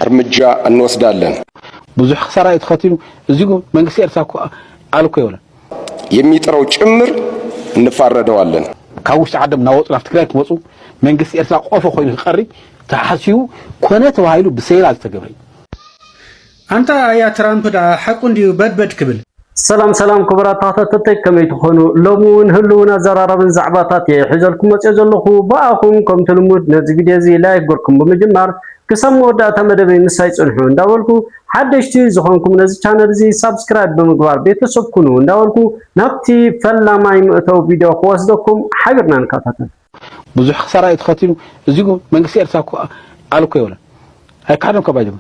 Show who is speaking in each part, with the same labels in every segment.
Speaker 1: እርምጃ እንወስዳለን። ብዙሕ
Speaker 2: ክሳራ እዩ ተኸቲሉ እዚ እኮ መንግስቲ ኤርትራ እኮ ኣል እኮ የብለን። የሚጥረው
Speaker 1: ጭምር እንፋረደዋለን። ካብ ውሽጢ
Speaker 2: ዓዶም እናወፁ ናብ ትግራይ ክመፁ መንግስቲ ኤርትራ ቆፎ ኮይኑ ክቀሪ ተሓሲቡ ኮነ ተባሂሉ ብሴራ ዝተገብረ እዩ።
Speaker 3: ኣንታ ኣያ ትራምፕ ደኣ ሓቁ እንድዩ በድበድ ክብል። ሰላም ሰላም
Speaker 4: ክቡራት ተኸታተልተይ ከመይ ትኾኑ ሎሚ እውን ህልውን ኣዘራራብን ዛዕባታት እየ ሒዘልኩም መፅኦ ዘለኹ ብኣኹም ከምቲ ልሙድ ነዚ ቪድዮ እዚ ላይክ ገርኩም ብምጅማር ክሳብ መወዳእታ መደበይ ምሳይ ፅንሑ እንዳበልኩ ሓደሽቲ ዝኾንኩም ነዚ ቻነል እዚ ሳብስክራይብ ብምግባር ቤተሰብ ኩኑ እንዳበልኩ ናብቲ ፈላማይ መእተዊ ቪድዮ ክወስደኩም ሓቢርና ንከታተል። ብዙሕ ክሳራ
Speaker 2: እዩ ተኸቲሉ እዚ መንግስቲ ኤርትራ እኮ ኣሉ እኮ የብለን ኣይካሓደን እኮ ባይደም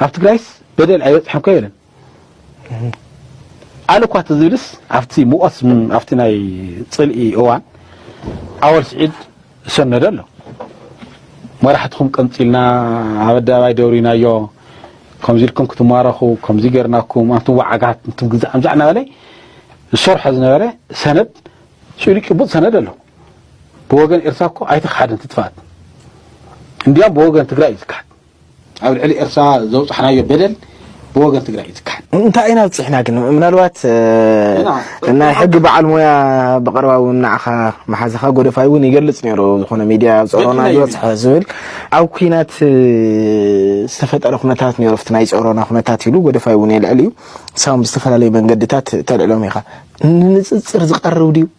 Speaker 2: ኣብ ትግራይስ በደል ኣይበፅሐን እኮ የብለን ኣሉ እኳ ትዝብልስ ኣብቲ ሙቐት ኣብቲ ናይ ፅልኢ እዋን ኣወል ስዒድ ዝሰነደ ኣሎ መራሕትኹም ቀምፂልና ኣብ ኣደባባይ ደብሪናዮ ከምዚ ኢልኩም ክትማረኹ ከምዚ ገርናኩም ኣንቱም ዋዓጋት እንቱም ግዛእ ምዛዕ እናበለ ዝሰርሖ ዝነበረ ሰነድ ፅሉይ ጭቡጥ ሰነድ ኣሎ ብወገን ኤርትራ እኮ ኣይተክሓደን ትጥፋት እንዲያም ብወገን ትግራይ እዩ ዝካሓድ ኣብ ልዕሊ ኤርትራ ዘውፃሕናዮ በደል ብወገን ትግራይ እዩ ዝካሓድ እንታይ ኢና ብፅሕና
Speaker 5: ግን ምናልባት ናይ ሕጊ በዓል ሞያ ብቐረባ እውን ንዓኻ መሓዝኻ ጎደፋይ እውን ይገልፅ ነይሩ ዝኾነ ሚድያ ፀሮና ዝበፅሐ ዝብል ኣብ ኩናት ዝተፈጠረ ኩነታት ነይሩ ፍቲ ናይ ፀሮና ኩነታት ኢሉ ጎደፋይ እውን የልዕል እዩ ንሳም ብዝተፈላለዩ መንገድታት ተልዕሎም ኢኻ ንንፅፅር ዝቀርብ ድዩ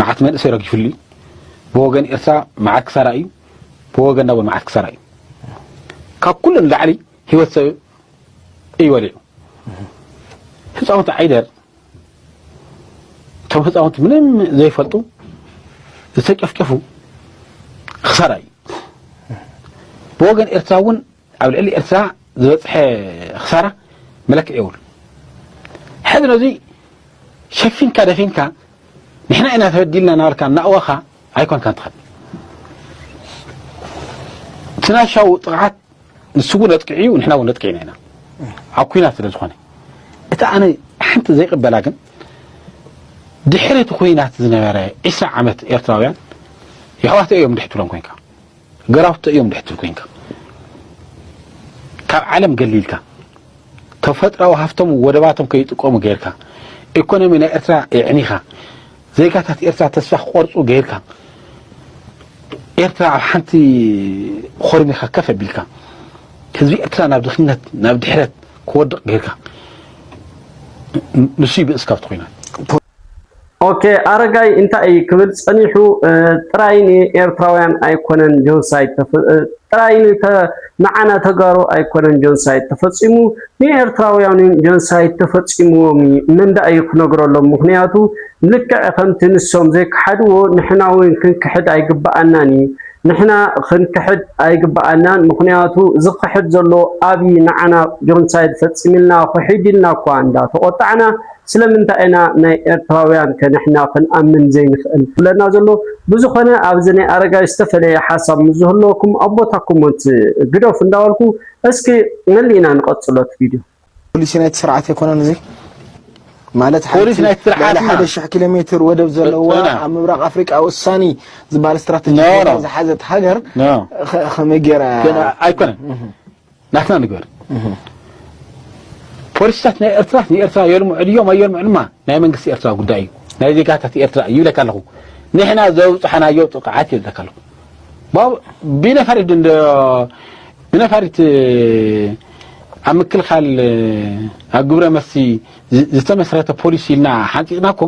Speaker 2: መዓት መንእሰይ ረጊፍሉ እዩ ብወገን ኤርትራ መዓት ክሳራ እዩ ብወገንና እውን መዓት ክሳራ እዩ ካብ ኩሉ ንላዕሊ ህይወት ሰብ እዩ ወሊዑ ህፃውንቲ ዓይደር እቶም ህፃውንቲ ምንም ዘይፈልጡ ዝተጨፍጨፉ ክሳራ እዩ ብወገን ኤርትራ እውን ኣብ ልዕሊ ኤርትራ ዝበፅሐ ክሳራ መለክዒ የብሉ ሕዚ ነዙይ ሸፊንካ ደፊንካ ንሕና ኢና ተበዲልና ናበልካ እናእወኻ ኣይኮንካን ትኸድ ትናሻው ጥቕዓት ንሱ እውን ኣጥቂዑ እዩ ንሕና እውን ነጥቂዕና ኢና ኣብ ኩናት ስለ ዝኾነ እቲ ኣነ ሓንቲ ዘይቅበላ ግን ድሕሪ እቲ ኩናት ዝነበረ ዒስራ ዓመት ኤርትራውያን የሕዋተ እዮም ድሕትሎም ኮንካ ገራውቶ እዮም ድሕትል ኮንካ ካብ ዓለም ገሊልካ ተፈጥራዊ ሃፍቶም ወደባቶም ከይጥቀሙ ገይርካ ኢኮኖሚ ናይ ኤርትራ የዕኒኻ ዜጋታት ኤርትራ ተስፋ ክቆርፁ ገይርካ ኤርትራ ኣብ ሓንቲ ኾርሚኻ ከፍ ኣቢልካ ህዝቢ ኤርትራ ናብ ድኽነት ናብ ድሕረት ክወድቕ ገይርካ ንሱ ይብእስ ካብቲ ኮይናት
Speaker 4: ኦኬ ኣረጋይ እንታይ እዪ ክብል ጸኒሑ ጥራይ ን ኤርትራውያን ኣይኮነን ጆንሳይድ ጥራይ ን ንዓና ተጋሩ ኣይኮነን ጆንሳይድ ተፈጺሙ ን ኤርትራውያን ውን ጆንሳይድ ተፈጺምዎም እዪ መን ድኣ እዪ ክነግረሎም ምኽንያቱ ልክዕ ከምቲ ንሶም ዘይከሓድዎ ንሕና ውን ክንክሕድ ኣይግብኣናን እዪ ንሕና ክንክሕድ ኣይግብኣናን ምኽንያቱ ዝኽሕድ ዘሎ ኣብዪ ንዓና ጆንሳይድ ፈጺምልና ኽሒድ ኢልና እኳ እንዳ ተቖጣዕና ስለምንታይ ኢና ናይ ኤርትራውያን ከ ንሕና ክንኣምን ዘይንኽእል ትብለና ዘሎ ብዝኾነ ኣብዚ ናይ ኣረጋይ ዝተፈለየ ሓሳብ ምስ ዝህልወኩም ኣብ ቦታ ኮሞንት ግደፉ እንዳበልኩ እስኪ መሊእና ንቐጽሎ እቲ ቪድዮ ፖሊሲ ናይቲ ስርዓት
Speaker 5: ኣይኮነን እዚ ማለት ሓንቲ ልዕሊ
Speaker 2: ሓደ ሽሕ ኪሎ ሜትር
Speaker 5: ወደብ ዘለዋ ኣብ ምብራቕ ኣፍሪቃ ወሳኒ ዝበሃል ስትራቴጂ ዝሓዘት ሃገር ከመይ ጌራ ኣይኮነን
Speaker 2: ናትና ንግበር ፖሊሲታት ናይ ኤርትራ ንኤርትራ የልሙ ዕድዮም ኣየልሙ ዕልማ ናይ መንግስቲ ኤርትራ ጉዳይ እዩ ናይ ዜጋታት ኤርትራ እዩ ይብለካ ኣለኹ ንሕና ዘብፅሐናዮ ጥቕዓት ይብለካ ኣለኹ ብነፋሪት ድንዶ ብነፋሪት ኣብ ምክልኻል ኣብ ግብረ መሲ ዝተመስረተ ፖሊሲ ኢልና ሓንፂፅና እኮ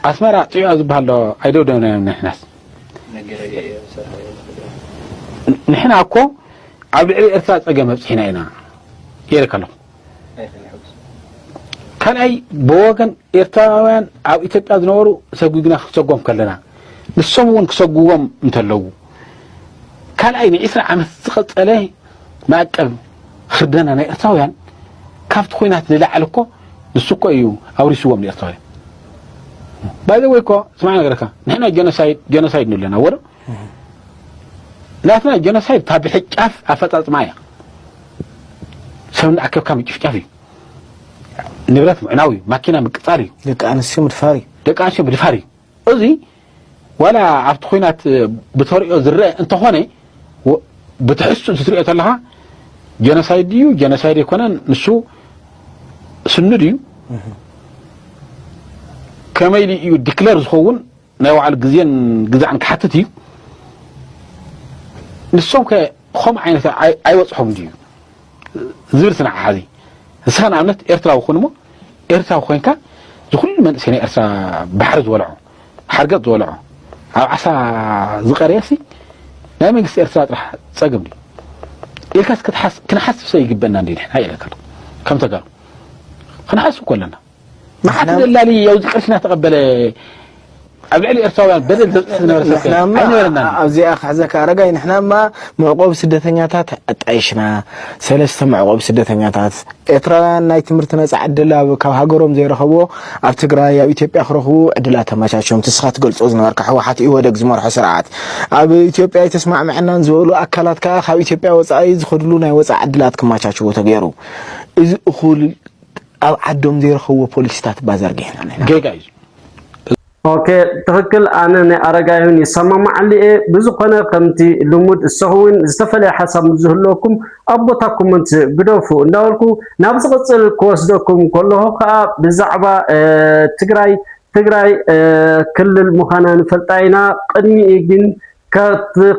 Speaker 2: ኣስመራ ፅዑያ ዝበሃል ዶ ኣይደውደብናዮም ንሕናስ መገረያ እያ ዝሰርሓ እያ ንትግራይ ንሕና እኮ ኣብ ልዕሊ ኤርትራ ጸገም ኣብጽሒና ኢና ኢለ ከለኹ ካልኣይ ብወገን ኤርትራውያን ኣብ ኢትዮጵያ ዝነበሩ ሰጒግና ክሰጎም ከለና ንሶም እውን ክሰጉዎም እንተለዉ ካልኣይ ንዒስራ ዓመት ዝቐጸለ መዕቀብ ህርደና ናይ ኤርትራውያን ካብቲ ኩናት ንላዕሊ እኮ ንሱ እኮ እዩ ኣውሪስዎም ንኤርትራውያን ባይ ዘ ወይ እኮ ስማዕ ነገርካ ንሕና ጀኖሳይድ ጀኖሳይድ ንብሎ ኣለና ወረ ናትና ጀኖሳይድ ካብ ብሕጫፍ ኣፈጻጽማ እያ ሰብ እንዳኣከብካ ምጭፍጫፍ እዩ ንብረት ምዕናው እዩ ማኪና ምቅጻል እዩ ደቂ ኣንስትዮ ምድፋር
Speaker 5: እዩ ደቂ ኣንስትዮ ምድፋር እዩ እዚ ዋላ ኣብቲ ኩናት
Speaker 2: ብተሪኦ ዝረአ እንተኾነ ብትሕዝትኡ ትሪኦ ተለኻ ጀኖሳይድ ድዩ ጀኖሳይድ ኣይኮነን ንሱ ስኑድ እዩ ከመይ ኢሉ እዩ ዲክለር ዝኸውን ናይ ባዕሉ ግዜን ግዛዕን ክሓትት እዩ ንሶም ከ ከምኡ ዓይነት ኣይበፅሖም ድዩ ዝብል ስናዕ ሓዚ ንስኻ ንኣብነት ኤርትራዊ ኩን እሞ ኤርትራዊ ኮንካ ዝኩሉ መንእሰይ ናይ ኤርትራ ባሕሪ ዝበልዖ ሓርገጥ ዝበልዖ ኣብ ዓሳ ዝቀረየሲ ናይ መንግስቲ ኤርትራ ጥራሕ ጸገም ድዩ ኢልካስ ክትሓስ ክንሓስብ ሰ ይግበና እንዲ ንሕና ኢለካ ከም ተጋሩ ክንሓስብ ኮለና መዓት ደላሊ ኣብዚ ቅርሺ እናተቐበለ ኣብ ልዕሊ ኤርትራውያን በደል ዘብፅሕ ዝነበረ ሰብ
Speaker 5: ኣይነበረና ኣብዚኣ ክሕዘካ ኣረጋይ ንሕናማ መዕቆቢ ስደተኛታት ኣጣይሽና ሰለስተ መዕቆቢ ስደተኛታት ኤርትራውያን ናይ ትምህርቲ ነፃ ዕድል ኣብ ካብ ሃገሮም ዘይረኸቦ ኣብ ትግራይ ኣብ ኢትዮጵያ ክረኽቡ ዕድላት ተመቻችዮም ትስኻ ትገልፆ ዝነበርካ ሕወሓት ኢወደግ ዝመርሖ ስርዓት ኣብ ኢትዮጵያ ኣይተስማዕምዐናን ዝበሉ ኣካላት ከዓ ካብ ኢትዮጵያ ወፃኢ ዝኸድሉ ናይ ወፃኢ ዕድላት ክመቻችዎ ተገይሩ እዚ እኹል ኣብ ዓዶም ዘይረኸብዎ ፖሊሲታት እባ ዘርጊሕና ንሕና ጌጋ እዩ
Speaker 2: እዚ።
Speaker 4: ኦኬ ትክክል ኣነ ናይ ኣረጋይሁን ይሳማማዓሉ እየ ብዝኮነ ከምቲ ልሙድ እሰኹም ውን ዝተፈለየ ሓሳብ ምስ ዝህልወኩም ኣብ ቦታ ኮሞንት ግደፉ እንዳበልኩ ናብ ዝቅጽል ክወስደኩም ከለኹ ከኣ ብዛዕባ ትግራይ ትግራይ ክልል ምዃና ንፈልጣ ኢና ቅድሚኡ ግን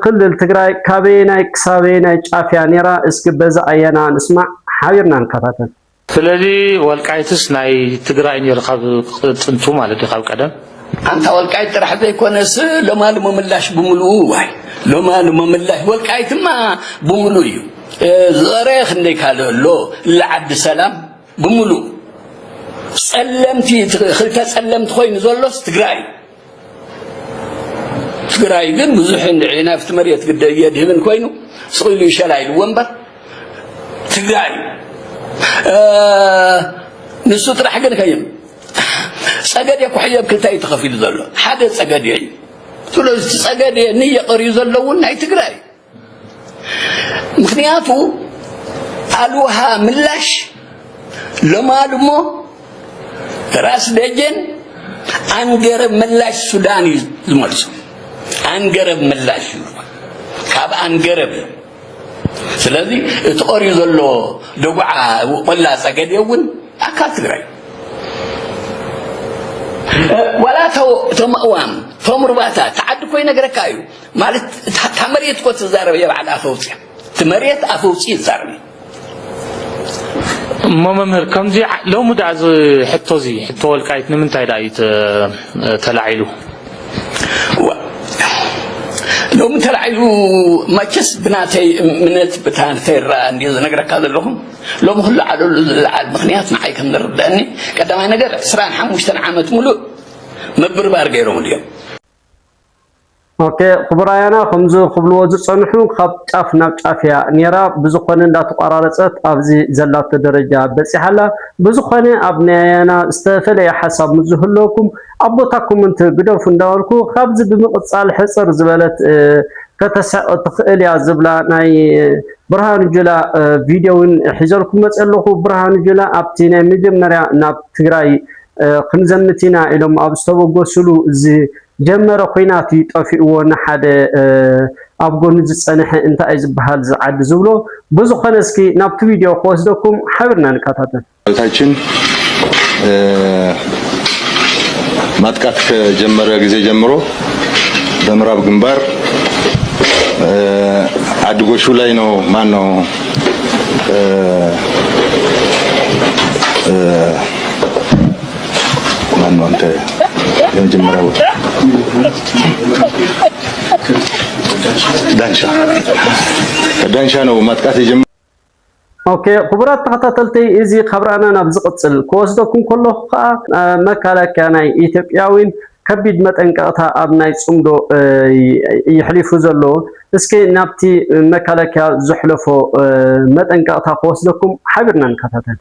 Speaker 4: ክልል ትግራይ ካበየናይ ክሳበየናይ ጫፍ እያ ኔራ እስኪ በዚ ኣያና ንስማዕ ሓቢርና ንከታተል። ስለዚ
Speaker 6: ወልቃይትስ ናይ ትግራይ ነይሩ ካብ ጥንቱ ማለት እዩ ካብ ቀደም ኣንታ ወልቃይት
Speaker 7: ጥራሕ ዘይኮነስ ሎማሉ ምምላሽ ብምልኡ ዋይ ሎማሉ ምምላሽ ወልቃይትማ ብምሉ እዩ ዝቐረየ ክንደይ ካልእ ኣሎ ለዓዲ ሰላም ብምሉ ጸለምቲ ክልተ ጸለምቲ ኮይኑ ዘሎስ ትግራይ ትግራይ ግን ብዙሕ እንድዒ ናብቲ መሬት ግደ የድህብን ኮይኑ ስቂሉ ይሸላ ኢልዎ እምበር ትግራይ ንሱ ጥራሕ ግን ከይም ጸገዴ ኩሕዮ ኣብ ክልታይ ተኸፊሉ ዘሎ ሓደ ጸገዴ እዩ ስለዚ ጸገዴ ንየቐርዩ ዘለውን ናይ ትግራይ ምክንያቱ ኣልውሃ ምላሽ ለማሉ እሞ ራስ ደጀን ኣንገረብ ምላሽ ሱዳን እዩ ዝመልሱ ኣንገረብ ምላሽ እዩ ካብ ኣንገረብ እዩ ስለዚ እቲ ቐርዩ ዘሎ ደጉዓ ቆላ ፀገዴ እውን ኣካል ትግራይ ዋላ ተምእዋም ተምርባታ ተዓዲ ኮይነ ነገረካ እዩ ማለት እታ መሬት እኮ ትዛረብ እየ በዓል ኣፈውፅያ እቲ መሬት ኣፈውፅ ይዛረብ
Speaker 6: እሞ መምህር ከምዚ ሎሚ ዳኣ እዚ ሕቶ እዚ ሕቶ ወልቃይት ንምንታይ ዳኣ እዩ ተላዒሉ
Speaker 7: ሎሚ ተላዒሉ መቸስ ብናተይ እምነት ብታንተይ ረኣ እንዲ ዝነግረካ ዘለኹም ሎሚ ክሉ ዓለሉ ዝለዓል ምክንያት ንዓይ ከም ዝርድአኒ ቀዳማይ ነገር ዕስራን ሓሙሽተን ዓመት ሙሉእ ምብርባር ገይሮም እዮም ኦኬ
Speaker 4: ክቡር ኣያና ከምዚ ክብልዎ ዝጸንሑ ካብ ጫፍ ናብ ጫፍ እያ ኔራ ብዝኮነ እንዳተቋራረጸት ኣብዚ ዘላቶ ደረጃ በጺሓ ኣላ ብዝኮነ ኣብ ናይ ኣያና ዝተፈለየ ሓሳብ ምስ ዝህልወኩም ኣብ ቦታ ኮመንት ግደፉ እንዳበልኩ ካብዚ ብምቅጻል ሕጽር ዝበለት ከተሰዕ ትክእል እያ ዝብላ ናይ ብርሃኑ ጁላ ቪድዮ ውን ሒዘልኩም መጽ ኣለኩ ብርሃኑ ጁላ ኣብቲ ናይ መጀመርያ ናብ ትግራይ ክንዘምት ኢና ኢሎም ኣብ ዝተበገስሉ እዚ ጀመረ ኹናት እዩ ጠፊእዎ ንሓደ ኣብ ጎኑ ዝጸነሐ እንታይ እዩ ዝብሃል እዚ ዓዲ ዝብሎ ብዝኾነ እስኪ ናብቲ ቪድዮ ክወስደኩም ሓብርና ንከታተል። ሰራዊታችን
Speaker 8: ማጥቃት ከጀመረ ጊዜ ጀምሮ በምዕራብ ግንባር አድጎሹ ላይ ነው ማን ነው ማነው አንተ የመጀመሪያ ቦታ ዳንሻ ዳንሻ ነው ማጥቃት የጀመ ኦኬ
Speaker 4: ክቡራት ተኸታተልቲ እዚ ካብ ራእና ናብ ዝቕፅል ክወስደኩም ከለኹ ከዓ መከላከያ ናይ ኢትዮጵያዊን ከቢድ መጠንቀቕታ ኣብ ናይ ፅምዶ ይሕሊፉ ዘሎ እስኪ ናብቲ መከላከያ ዘሕለፎ መጠንቀቕታ ክወስደኩም ሓቢርና ንከታተል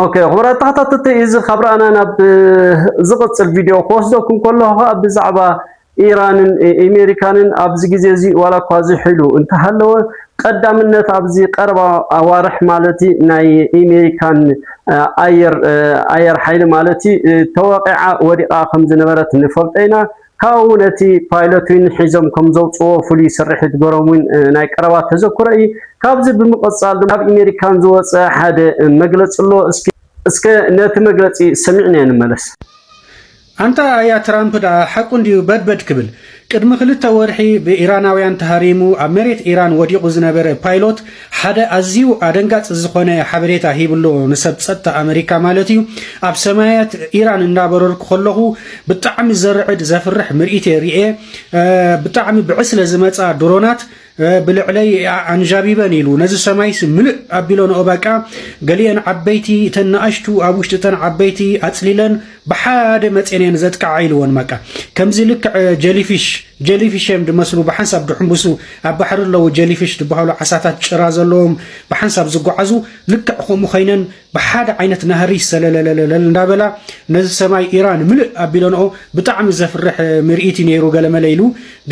Speaker 4: ኦኬ ክቡራት ተኸታተልቲ እዚ ካብ ረኣና ናብ ዝቕጽል ቪድዮ ክወስደኩም ከለኹ ከኣ ብዛዕባ ኢራንን ኣሜሪካንን ኣብዚ ግዜ እዚ ዋላ እኳ ዝሕሉ እንተሃለወ ቀዳምነት ኣብዚ ቀረባ ኣዋርሕ ማለት ናይ ኣሜሪካን ኣየር ኣየር ሓይሊ ማለት ተወቂዓ ወዲቓ ከም ዝነበረት ንፈልጦ ኢና ካብኡ እውን እቲ ፓይሎት ዊን ሒዞም ከም ዘውፅዎ ፍሉይ ስርሒት ገሮም ዊን ናይ ቀረባ ተዘክሮ እዩ። ካብዚ ብምቕፃል ድማ ካብ ኢሜሪካን ዝወፀ ሓደ መግለፂ ኣሎ እስኪ እስከ ነቲ መግለፂ ሰሚዕናዮ ንመለስ። ኣንታ
Speaker 3: ኣያ ትራምፕ ደኣ ሓቁ እንድዩ በድበድ ክብል። ቅድሚ ክልተ ወርሒ ብኢራናውያን ተሃሪሙ ኣብ መሬት ኢራን ወዲቑ ዝነበረ ፓይሎት፣ ሓደ ኣዝዩ ኣደንጋጽ ዝኾነ ሓበሬታ ሂብ'ሎ ንሰብ ጸጥታ ኣመሪካ ማለት እዩ። ኣብ ሰማያት ኢራን እንዳበረርኩ ከለኹ ብጣዕሚ ዘርዕድ ዘፍርሕ ምርኢት እየ ርኤ። ብጣዕሚ ብዕስለ ዝመጻ ድሮናት ብልዕለይ ኣንዣቢበን ኢሉ ነዚ ሰማይስ ምልእ ኣቢሎንኦ በቃ ገሊኤን ዓበይቲ እተን ንኣሽቱ ኣብ ውሽጢ እተን ዓበይቲ ኣጽሊለን ብሓደ መጼን እየን ዘጥቅዓ ኢልዎ ንማቃ ከምዚ ልክዕ ጀሊፊሽ ጀሊፊሽ እዮም ድመስሉ ብሓንሳብ ድሕንብሱ ኣብ ባሕሪ ኣለዉ ጀሊፊሽ ድበሃሉ ዓሳታት ጭራ ዘለዎም ብሓንሳብ ዝጓዓዙ ልክዕ ከምኡ ኮይነን ብሓደ ዓይነት ናህሪ ሰለለለለል እንዳበላ ነዚ ሰማይ ኢራን ምልእ ኣቢለንኦ ብጣዕሚ ዘፍርሕ ምርኢት እዩ ነይሩ ገለመለ ኢሉ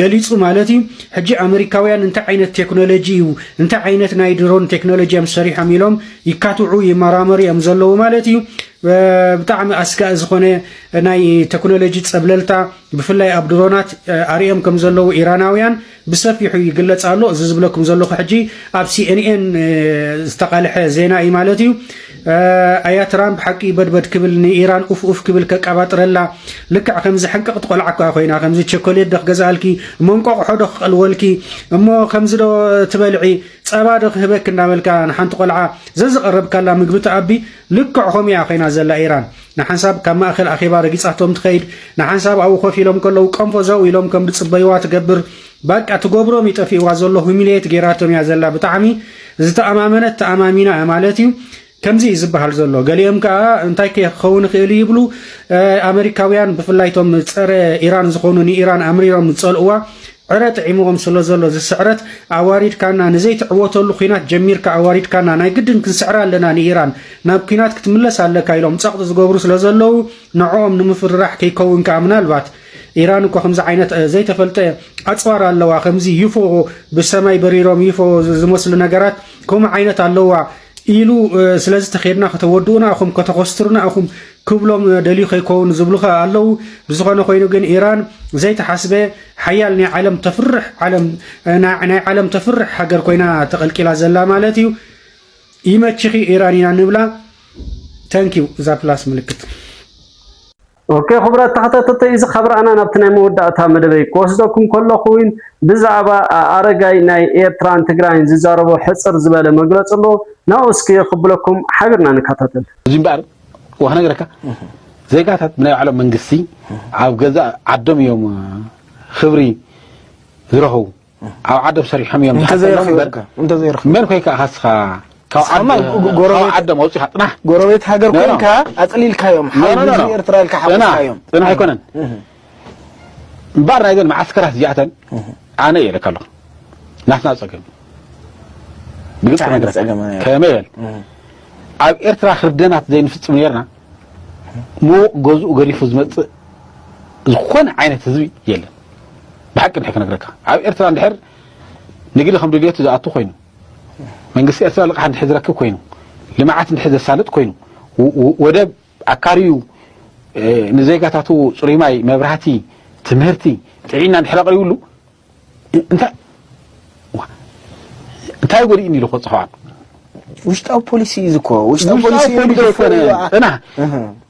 Speaker 3: ገሊጹ ማለት እዩ ሕጂ ኣመሪካውያን እንታይ ዓይነት ቴክኖሎጂ እዩ እንታይ ዓይነት ናይ ድሮን ቴክኖሎጂ እዮም ሰሪሖም ኢሎም ይካትዑ ይመራመሩ እዮም ዘለዉ ማለት እዩ ብጣዕሚ ኣስጋኢ ዝኾነ ናይ ተክኖሎጂ ጸብለልታ ብፍላይ ኣብ ድሮናት ኣርእዮም ከም ዘለዉ ኢራናውያን ብሰፊሑ ይግለጽ ኣሎ። እዚ ዝብለኩም ዘለኹ ሕጂ ኣብ ሲኤንኤን ዝተቓልሐ ዜና እዩ ማለት እዩ። ኣያ ትራምፕ ሓቂ በድበድ ክብል ንኢራን ኡፍ ኡፍ ክብል ከቃባጥረላ ልክዕ ከምዚ ሕንቅቕቲ ቆልዓ እኳ ኮይና ከምዚ ቸኮሌት ዶ ክገዝኣልኪ እሞ እንቆቕሖ ዶ ክቐልወልኪ እሞ ከምዚ ዶ ትበልዒ ጸባ ዶ ክህበኪ እንዳበልካ ንሓንቲ ቆልዓ ዘዝቐረብካላ ምግቢ ትኣቢ ልክዕ ከምኡ እያ ኮይና ዘላ ኢራን ንሓንሳብ ካብ ማእከል ኣኼባ ረጊጻቶም ትኸይድ ንሓንሳብ ኣብኡ ኮፍ ኢሎም ከለዉ ቀንፎ ዘው ኢሎም ከም ዝጽበይዋ ትገብር ባቃ ትገብሮም እዩ ጠፊእዋ ዘሎ ሁሚልየት ጌራቶም እያ ዘላ ብጣዕሚ ዝተኣማመነት ተኣማሚና እያ ማለት እዩ ከምዚ እዩ ዝበሃል ዘሎ ገሊኦም ከዓ እንታይ ክኸውን ይኽእል ይብሉ ኣመሪካውያን ብፍላይ ቶም ፀረ ኢራን ዝኾኑ ንኢራን ኣምሪሮም ዝፀልእዋ ዕረ ጥዒሙዎም ስለዘሎ ዝስዕረት ኣዋሪድካና ንዘይትዕወተሉ ኲናት ጀሚርካ ኣዋሪድካና ናይ ግድን ክንስዕራ ኣለና ንኢራን ናብ ኲናት ክትምለስ ኣለካ ኢሎም ጸቕጢ ዝገብሩ ስለዘለዉ ንዕኦም ንምፍርራሕ ከይከውን ከኣ ምናልባት ኢራን እኮ ከምዚ ዓይነት ዘይተፈልጠ ኣጽዋር ኣለዋ ከምዚ ዩፎ ብሰማይ በሪሮም ዩፎ ዝመስሉ ነገራት ከምኡ ዓይነት ኣለዋ ኢሉ ስለዚ ተኼድና ከተወድኡና እኹም ከተኾስትሩና እኹም ክብሎም ደልዩ ከይኮውን ዝብሉኻ ኣለው ብዝኾነ ኮይኑ ግን ኢራን ዘይተሓስበ ሓያል ናይ ዓለም ተፍርሕ ዓለም ናይ ዓለም ተፍርሕ ሃገር ኮይና ተቐልቂላ ዘላ ማለት እዩ ይመችኺ ኢራን ኢና ንብላ ተንኪው እዛ ፕላስ ምልክት
Speaker 4: ኦኬ ክቡራት ተኸታተልቲ እዚ ካብ ረኣና ናብቲ ናይ መወዳእታ መደበይ ክወስደኩም ከለኹ እውን ብዛዕባ ኣረጋይ ናይ ኤርትራን ትግራይን ዝዛረቦ ሕፅር ዝበለ መግለፂ ኣሎ ናብኡ እስኪ ክብለኩም ሓቢርና ንከታተል እዚ እምበኣር
Speaker 2: እወ ክነግረካ ዜጋታት ብናይ ባዕሎም መንግስቲ ኣብ ገዛእ ዓዶም እዮም ክብሪ ዝረኽቡ ኣብ ዓዶም ሰሪሖም እዮም መን ኮይካ ካስኻ
Speaker 5: ዓዶም ኣውፂኻ ጥናሕ
Speaker 2: ጎረቤት ሃገር ኮይንካ
Speaker 5: ኣፅሊልካዮም ሓዊ ኤርትራ ኢልካ ሓዊስካዮም ጥናሕ ኣይኮነን
Speaker 2: እምበኣር ናይዘን መዓስከራት እዚኣተን ኣነ እየ ኢለካ ኣለኹ ናትና ፀገም ብግልፂ እንታይ ዓይነት ነገራት ፀገም እዩ? ከመይ በል ኣብ ኤርትራ ክርደናት ዘይንፍፅም ነርና ምዉቕ ገዝኡ ገዲፉ ዝመፅእ ዝኾነ ዓይነት ህዝቢ የለን ብሓቂ ንሐ ክነግረካ ኣብ ኤርትራ እንድሕር ንግዲ ከም ድልየቱ ዝኣቱ ኮይኑ መንግስቲ ኤርትራ ልቕሓ እንድሕር ዝረክብ ኮይኑ ልምዓት እንድሕር ዘሳልጥ ኮይኑ ወ- ወ- ወደብ ኣካሪዩ ንዜጋታቱ ጽሩይ ማይ፣ መብራህቲ፣ ትምህርቲ፣ ጥዒና እንድሕር ኣቕሪብሉ እንታይ እንታይ ጎዲእኒ ኢሉ ክበጽሖ ኣሎ? ውሽጣዊ
Speaker 5: ፖሊሲ እዩ ዝኮ ውሽጣዊ ፖሊሲ ዘይኮነ እና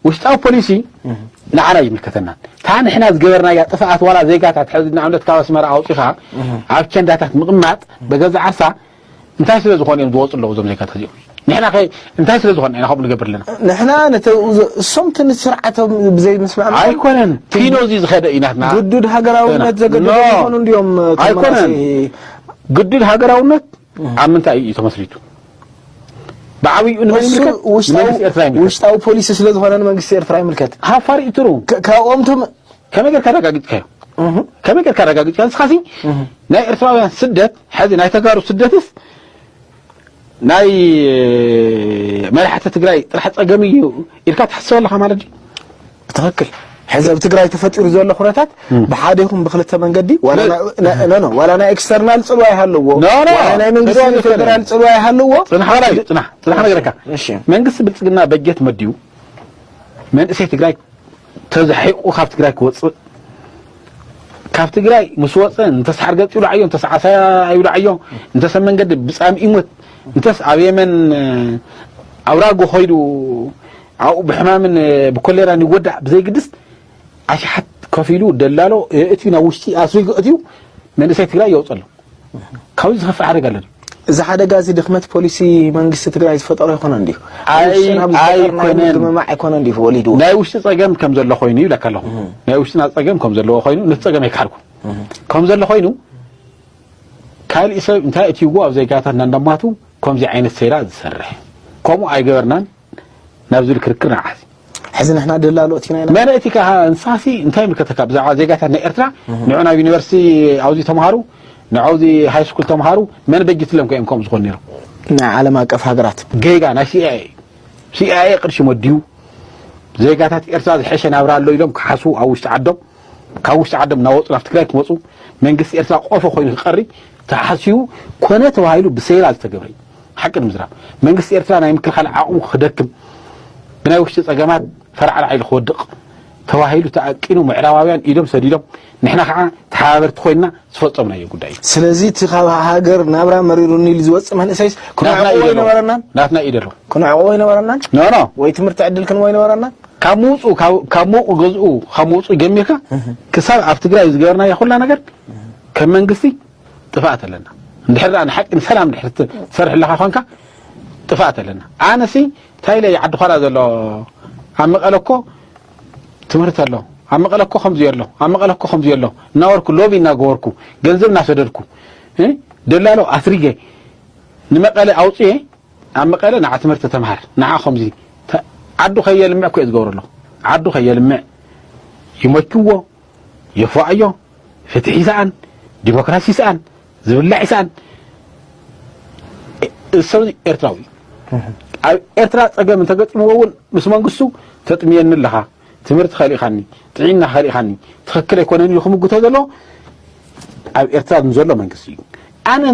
Speaker 2: ውሽጣዊ ፖሊሲ ንዓና ይምልከተናን እታ ንሕና ዝገበርናያ ጥፍኣት ዋላ ዜጋታት ሕዚ ንኣብነት ካብ ኣስመራ ኣውፂኻ ኣብ ቸንዳታት ምቕማጥ በገዛ ዓርሳ እንታይ ስለ ዝኾኑ እዮም ዝወጹ ኣለዉ እዞም ዜጋታት እዚኦም? ንሕና ከ እንታይ ስለ ዝኾና ኢና ከምኡ ንገብር ኣለና? ንሕና ነቲ
Speaker 5: እሶም እቲ ንስርዓቶም ብዘይምስምዕማዕ ኣይኮነን ኪኖ
Speaker 2: እዚ ዝኸደ እዩ ናትና ግዱድ ሃገራውነት
Speaker 5: ዘገድዶም ይኾኑ እንድዮም ኣይኮነን
Speaker 2: ግዱድ ሃገራውነት ኣብ ምንታይ እዩ ተመስሪቱ? ብዓብዩ ንመን ይምልከት?
Speaker 5: ውሽጣዊ ፖሊሲ ስለ ዝኾነ ንመንግስቲ ኤርትራ ይምልከት። ሃፋር ይትሩ
Speaker 2: ካብኦምቶም
Speaker 5: ከመይ ጌርካ
Speaker 2: ኣረጋጊጽካዮ ከመይ ጌርካ ኣረጋጊጽካ ንስኻሲ ናይ ኤርትራውያን ስደት ሕዚ ናይ ተጋሩ ስደትስ ናይ መራሕቲ ትግራይ ጥራሕ ጸገም እዩ ኢልካ ትሕስብ ኣለኻ ማለት ድዩ ትኽክል
Speaker 5: ሕዚ ኣብ ትግራይ ተፈጢሩ ዘሎ ኩነታት ብሓደ ይኹን ብክልተ መንገዲ ዋላ ናይ ኤክስተርናል ፅልዋ ይሃለዎ ናይ መንግስቲ ፌደራል ፅልዋ ይሃለዎ ፅናሕ በላይ ፅናሕ ፅናሕ
Speaker 2: ነገርካ መንግስቲ ብልፅግና በጀት መድዩ መንእሰይ ትግራይ ተዛሒቁ ካብ ትግራይ ክወጽእ ካብ ትግራይ ምስ ወጸ እንተስ ሓርገጽ ይውዳዓዮ እንተስ ዓሳያ ይውዳዓዮ እንተስ መንገዲ ብጻም ይሞት እንተስ ኣብ የመን ኣውራጎ ኮይዱ ኣብኡ ብሕማምን ብኮሌራን ይወዳእ ብዘይግድስ ኣሽሓት ከፊሉ ደላሎ እቲ ናብ ውሽጢ ኣስሪጉ እትዩ መንእሰይ ትግራይ የውፀሎም ካብዚ ዝኸፍእ ሓደጋ ኣሎ ድዩ? እዚ ሓደጋ እዚ
Speaker 5: ድኽመት ፖሊሲ መንግስቲ ትግራይ ዝፈጠሮ ኣይኮነን እንዲዩ ኣብ ውሽጥና ብዝፈጠር ናይ ምድምማዕ ኣይኮነን እንዲዩ ወሊድዎ ናይ ውሽጢ ፀገም ከም
Speaker 2: ዘሎ ኮይኑ ይብለካ ኣለኹ ናይ ውሽጥና ፀገም ከም ዘለዎ ኮይኑ ነቲ ፀገም ኣይከሓድኩ ከም ዘሎ ኮይኑ ካልእ ሰብ እንታይ እትይዎ ኣብ ዜጋታትና እንዳማቱ ከምዚ ዓይነት ሴራ ዝሰርሕ ከምኡ ኣይገበርናን ናብ ዝብል ክርክር ንዓት ሕዚ ንሕና ደላሎት ኢና ኢና መን እቲ ከኣ እንሳሲ እንታይ ምልከተካ ብዛዕባ ዜጋታት ናይ ኤርትራ ንዑ ናብ ዩኒቨርሲቲ ኣውዚ ተምሃሩ ንዐውዚ ሃይ ስኩል ተምሃሩ መን በጅትሎም ከ እዮም ከምኡ ዝኾኑ ነይሮም ናይ ዓለም ኣቀፍ
Speaker 5: ሃገራት ጌጋ ናይ ሲኣይኤ
Speaker 2: እዩ ሲኣይኤ ቅርሺ መድዩ ዜጋታት ኤርትራ ዝሐሸ ናብራ ኣሎ ኢሎም ክሓስቡ ኣብ ውሽጢ ዓዶም ካብ ውሽጢ ዓዶም እናወፁ ናብ ትግራይ ክመፁ መንግስቲ ኤርትራ ቆፎ ኮይኑ ክቀሪ ተሓሲቡ ኮነ ተባሂሉ ብሴራ ዝተገብረ እዩ። ሓቂ ንምዝራብ መንግስቲ ኤርትራ ናይ ምክልኻል ዓቕሙ ክደክም ብናይ ውሽጢ ጸገማት ፈራዕራዕ ኢሉ ክወድቕ ተባሂሉ ተኣቂኑ ምዕራባውያን ኢዶም ሰዲዶም ንሕና ከዓ ተሓባበርቲ ኮይንና ዝፈፀምናዮ ጉዳይ እዩ ስለዚ እቲ ካብ ሃገር ናብራ መሪሩኒ ኢሉ ዝወፅእ መንእሰይስ ክንዕቆቦ ይነበረናን ናትና ኢደሎ ክንዕቆቦ ይነበረናን ኖኖ ወይ ትምህርቲ ዕድል ክንቦ ይነበረናን ካብ ምውጽኡ ካብ ሞቑ ገዝኡ ካብ ምውጽኡ ጀሚርካ ክሳብ ኣብ ትግራይ ዝገበርናዮ ኩላ ነገር ከም መንግስቲ ጥፋኣት ኣለና እንድሕር ደኣ ንሓቂ ንሰላም ድሕር ትሰርሕ ኣለኻ ኾንካ ጥፋኣት ኣለና ኣነሲ እንታይ ኢለ ዓዲ ኾራ ዘሎ ኣብ መቐለ እኮ ትምህርቲ ኣሎ ኣብ መቐለ እኮ ከምዚ ኣሎ ኣብ መቐለ እኮ ከምዚ ኣሎ እናወርኩ ሎቢ እናገበርኩ ገንዘብ እናሰደድኩ ደላሎ ኣስሪገ ንመቐለ ኣውፅኤ ኣብ መቀለ ንዓ ትምህርቲ ተምሃር ንዓ ከምዚ ዓዱ ከየልምዕ እኮ እዩ ዝገብሮ ኣሎ ዓዱ ከየልምዕ ይመችዎ የፏኣዮ ፍትሒ ይስኣን ዲሞክራሲ ይስኣን ዝብላዕ ይስኣን እሰብ ኤርትራዊ ኣብ ኤርትራ ፀገም እንተገጥምዎ እውን ምስ መንግስቱ ተጥምየኒ ኣለኻ ትምህርቲ ከሊእኻኒ ጥዒና ከሊእኻኒ ትኽክል ኣይኮነን እዩ ክምግቶ ዘሎ ኣብ ኤርትራ ንዘሎ መንግስቲ እዩ ኣነ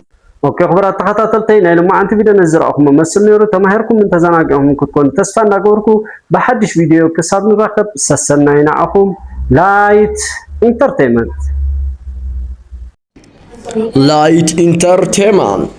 Speaker 2: ኦኬ ክቡራት
Speaker 4: ተኸታተልተይ ናይ ሎማዓንቲ ቪድዮ ነዚ ዝረኣኹሞ መስል ነይሩ ተማሂርኩምን ተዘናጊዕኹምን ክትኮኑ ተስፋ እንዳገበርኩ ብሓድሽ ቪድዮ ክሳብ ንራኸብ ሰሰናዩ ንዓኹም ላይት ኢንተርቴይመንት ላይት ኢንተርቴይመንት